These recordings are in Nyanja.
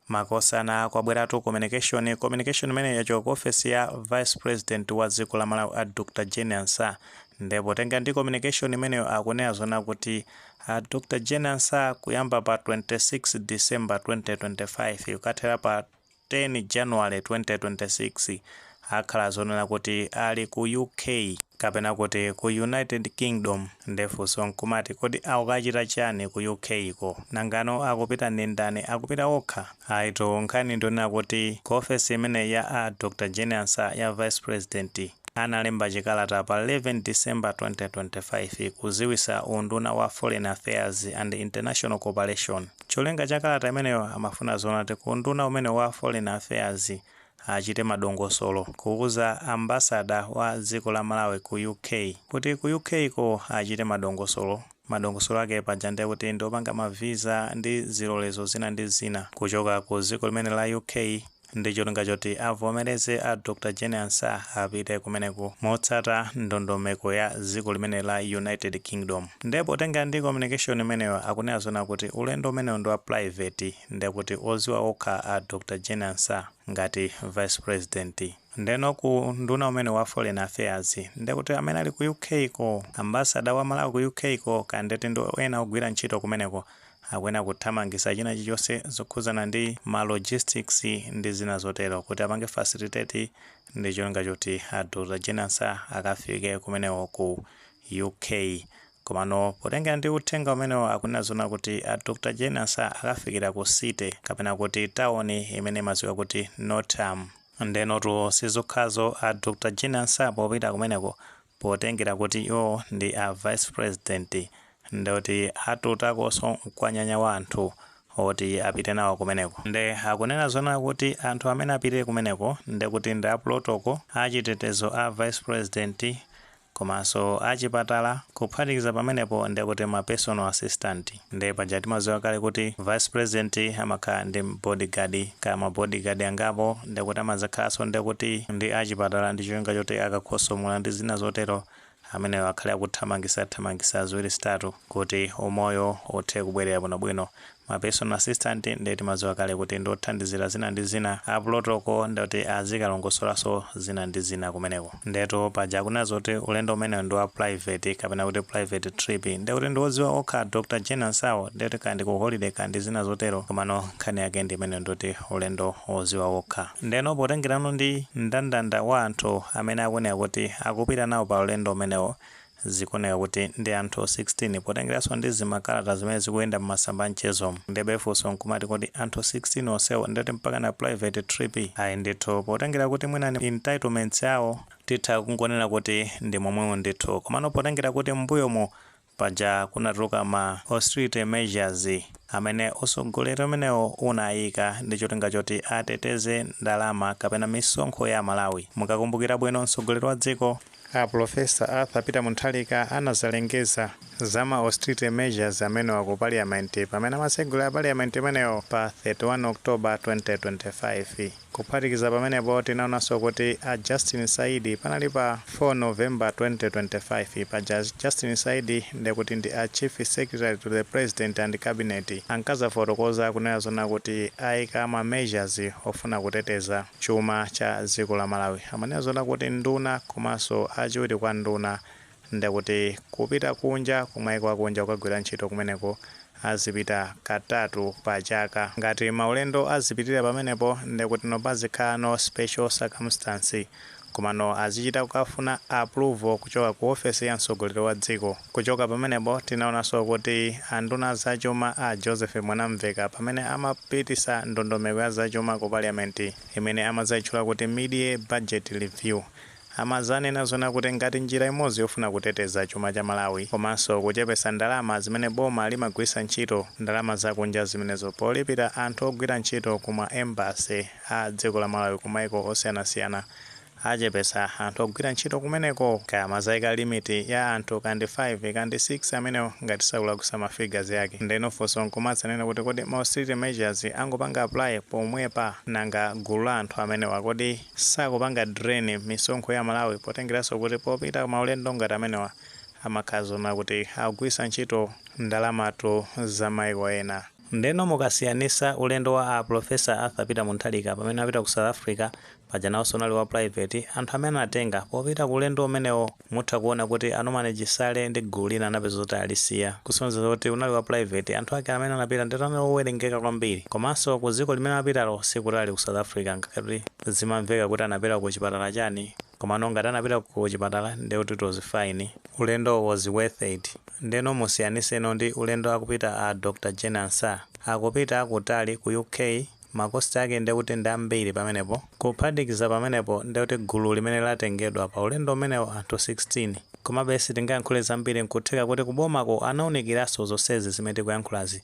Makosana kwabweratu communication communication imeneyo yachoka ku ofesi ya vice president wa dziko la Malawi a Dr Jane Ansah nde potenga ndi communication imeneyo akunena zona kuti a Dr Jane Ansah kuyamba pa 26 December 2025 kukathera pa 10 January 2026 Akhala zonena kuti ali ku UK kapena kuti ku United Kingdom nde funso nkumati kodi akukachita chani ku UK ko? Nangano akupita ndi ndani? Akupita okha? Ayitu nkhani ndiyonena kuti ku ofesi imeneyi ya a Dr Jane Ansah ya Vice President analemba chikalata pa 11 December 2025 kuziwisa unduna wa Foreign Affairs and International Cooperation. Cholinga cha kalata imeneyo amafuna zoona kuti ku unduna umenewu wa Foreign Affairs achite madongosolo kuuza ambassador wa dziko la Malawi ku UK kuti ku UK ko achite madongosolo madongosolo ake paja ndiye kuti ndiopanga ma visa ndi zilolezo zina ndi zina kuchoka ku dziko limene la UK ndi cholinga choti avomereze a Dr Jane Ansah apite kumeneku motsata ndondomeko ya dziko limene la United Kingdom ndiye potengera ndi communication imeneyo akunena zona kuti ulendo umenewo ndi wa private nde kuti oziwa okha a Dr Jane Ansah ngati vice president. Ndeno ku unduna umene wa foreign affairs nde kuti amene ali ku UK ko, ambassador wa Malawi ku UK ko kaya nde kuti ndi ena ogwira ntchito kumeneko akuyenera kuthamangisa china chilichonse zokhuzana ndi ma logistics ndi zina zotero kuti apange facilitate ndi cholinga choti a Dr Jane Ansah akafike kumeneko ku UK. Komano potengera ndi uthenga umenewo akunena zoona kuti a Dr Jane Ansah akafikira ku city kapena kuti tawoni imene imadziwika kuti Nottingham. Ndenotu sizokhazo a Dr Jane Ansah popita kumeneko potengera kuti iwowo ndi a vice president ndekuti atutakonso mkwanyanya wa anthu oti apite nawo kumeneko nde akunena zoona kuti anthu amene apite kumeneko ndekuti ndi a protocol, achitetezo a vice president, komanso achipatala kuphatikiza pamenepo ndekuti ma personal assistant nde paja timaziwa kale kuti vice president amakhala ndi body guard kaya ma body guard angapo ndekuti amazakhalanso ndekuti ndi achipatala ndi cholinga choti akakhosomola ndi zina zotero amenewo akhale akuthamangisa thamangisa ziwiri zitatu kuti umoyo uthe kubwerera bwino bwino Ma personal assistant nde timadziwa kale kuti ndi othandizira zina ndi zina a pulotoko nde oti azikalongosolanso zina ndi zina kumeneko. Ndetu paja akunena zoti ulendo umenewo ndi wa private kapena kuti private trip nde kuti ndi odziwa okha a Dr Jane Ansah wo nde kuti kaya ndi ku holiday kaya ndi zina zotero komano nkhani yake ndi imeneyo ndi yoti ulendo oziwa okha. Ndeno potengerano ndi mndandanda wa anthu amene akunena kuti akupita nawo pa ulendo umenewo Zikuoneka kuti ndi anthu 16 potengeranso ndi zimakalata zimene zikuyenda mmasamba a mchezo. Ndebe funso nkumati kodi anthu 16 onsewo ndiye kuti mpakana private trip? Ayi ndithu potengera kuti mwina ndi entitlements awo. Titha kungonena kuti ndi momwemo ndithu. Komano potengera kuti m'mbuyomu paja kunatuluka ma austerity measures amene utsogoleri umenewo unayika ndi cholinga choti ateteze ndalama kapena misonkho ya Amalawi. Mukakumbukira bwino mtsogoleri wa dziko. A Pulofesa Arthur Peter Munthalika anazalengeza za ma austerity measures amenewa ku Parliament pamene amatsegulira Parliament imeneyo pa 31 October 2025. Kuphatikiza pamenepo tinaonanso kuti a Justin Saidi panali pa 4 November 2025 paja Justin Saidi ndekuti ndi a Chief Secretary to the President and Cabinet anakazafotokoza kunena zoona kuti aika ma measures ofuna kuteteza chuma cha dziko la Malawi. Amanena zoona kuti nduna komanso achiwiri kwa nduna ndekuti kupita kunja kumaiko akunja kukagwira ntchito kumeneko azipita katatu pa chaka. Ngati maulendo azipitirira pamenepo ndekutino pazikhala ma special circumstance Komano azichita kukafuna approval kuchoka ku office ya mtsogoleri wa dziko. Kuchoka pamenepo tinaonanso kuti anduna a zachuma a Joseph Mwanamveka pamene amapitisa ndondomeko ya zachuma ku parliament imene amazayitchula kuti midyear budget review amazanena zoona kuti ngati njira imodzi yofuna kuteteza chuma cha Malawi komanso kuchepesa ndalama zimene boma limagwirisa ntchito ndalama zakunja zimenezo polipira anthu ogwira ntchito ku ma embassy a dziko la Malawi ku maiko osiyanasiyana achepesa anthu ogwira ntchito kumeneko kaya amazaika limit ya anthu ka ndi 5 ka ndi 6 amenewo ngati sindikulakwisa ma figures ake ndeno funso nkumadzanena kuti kodi ma austerity measures angopanga apply pomwepa nanga gulu la anthu amenewa kodi sakupanga drain misonkho ya Malawi potengeranso kuti popita ku maulendo ngati amenewa amakhala zoona kuti akugwirisa ntchito ndalamatu za maiko ena. Ndeno mukasiyanisa ulendo wa a Prof Arthur Peter Munthalika pamene amapita ku South Africa, paja naonso unali wa private, anthu amene anatenga popita ku ulendo umenewo mutha kuona kuti a Norman Chisale ndi gulu lina anapeza zoti alisiya, kusonyeza zoti unali wa private, anthu ake amene anapita ndekuti anali owerengeka kwambiri. Komanso ku dziko limene anapitalo sikutali ku South Africa ngakhale kuti zimamveka kuti anapita ku chipatala chani. Komano ngati anapita ku chipatala nde kuti it was fine. Ulendo was worth it. Ndeno musiyaniseno ndi ulendo akupita a Dr Jane Ansah. Akupita kutali ku UK ma cost ake nde kuti ndi ambiri pamenepo. Kuphatikiza pamenepo nde kuti gulu limene latengedwa pa ulendo umenewo anthu 16. Komabe sitingayankhule zambiri nkutheka kuti kubomako anaunikiranso zonsezi zimene tikuyankhulazi.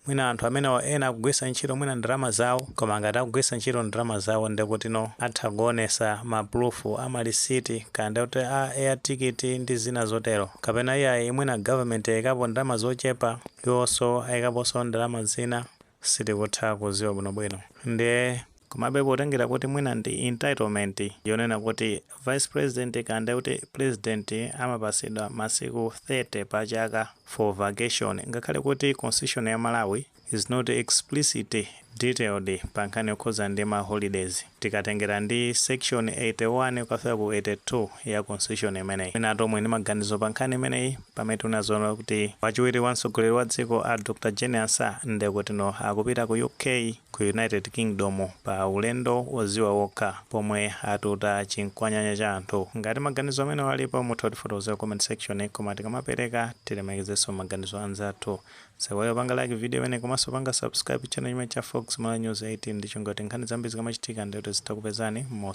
Mwina anthu amenewa ena akugwisa ntchito mwina ndalama zawo koma ngati akugwisa ntchito ndalama zawo ndekutino atha kuonesa ma proof a ma receipt kaya ndekuti ya air ticket ndi zina zotero kapena iyayi mwina government yaikapo ndalama zochepa iwoso aikaposo ndalama zina sitikutha kuziwa bwinobwino ndiye Komabe potengera kuti mwina ndi entitlement yonena kuti vice president kaya ndiye kuti president amapatsidwa masiku 30 pa chaka for vacation ngakhale kuti constitution ya Malawi is not explicitly detailed pa nkhani yokhudza ndi ma holidays tikatengera ndi section 81 kukafika ku 82 ya constitution imeneyi. Mwinatu omwe ndi maganizo pa nkhani imeneyi pamene tikunena zoona kuti wachiwiri kwa mtsogoleri wa dziko a Dr Jane Ansah ndekutino akupita ku UK ku United Kingdom pa ulendo oziwa okha pomwe atuta chinkwanyanya cha anthu. Ngati maganizo amenewo alipo mutha kutifotokozera ku comment section koma tikamapereka tilemekezenso maganizo a anzathu. Osaiwala kupanga like video imeneyi komanso kupanga subscribe channel chimenechi cha Fox Malawi News 18 ndi cholinga choti nkhani zambiri zikamachitika ndiye kuti zitha kupezani mos